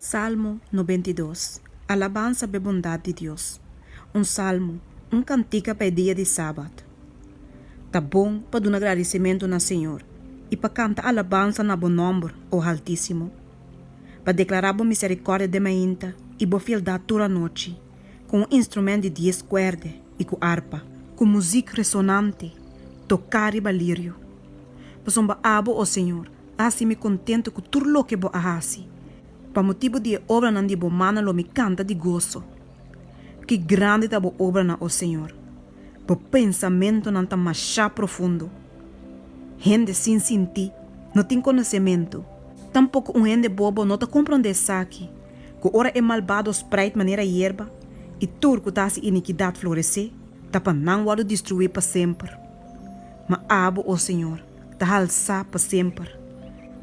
Salmo nobenta i dos. Alabansa pa e bondat di Dios. Un salmo, un kantika pa e dia di Sabat. Ta bon pa duna gradisimentu na Señor i pa kanta alabansa na bo nòmber, o Haltísimo. Pa deklará bo miserikòrdia den mainta i bo fieldat tur anochi, ku un instrumènt di dies kuèrd'e i ku arpa. Ku muzik resonante, toká riba lirio. Pasobra abo, o Señor, Así mi contento cu tur loke bo a haci. Pa motibu di e obranan di bo mano lo mi canta di gozo. Ki grandi ta bo obranan, o Señor! Bo pensamentonan ta masha profundo. Hende sin sinti no tin conocemento. Tampoco un hende bobo no ta compronde esaki, cu ora e malbado spreid manera yerba y tur cu ta haci iniquidad florece, ta pa nan wòrdu destrui pa semper. Ma abo, o Señor, ta halsá pa semper.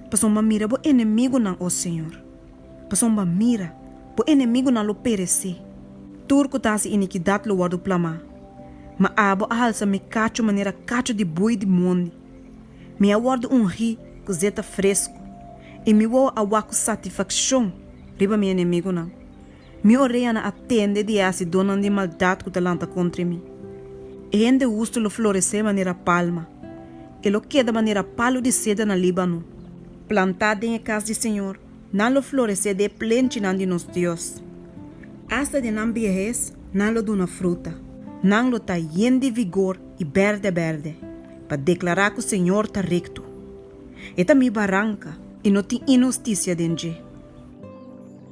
Pasobra mira bo enemigunan, o señor, pasobra mira, bo enemigunan lo peresé, tur ku ta hasi inikidat lo wòrdu plamá. Ma abo a halsa mi kachu manera kachu di bui di mondi. Mi a wòrdu ungí ku zeta fresku, i mi wowo a wak ku satifakshon riba mi enemigunan, Mi orea na atende di e hacidónan di maldad cu ta lanta contra mi. E hende hustu lo florecé manera palma. E lo keda manera palu di ceder na Líbano. Plantá den e cas di Señor, nan lo florecé di e plenchinan di nos Dios. Hasta den nan biehes nan lo duna fruta. Nan lo ta yen di vigor i berde berde, pa declará cu Señor ta recto. E ta mi baranca, i no tin inhusticia den dje.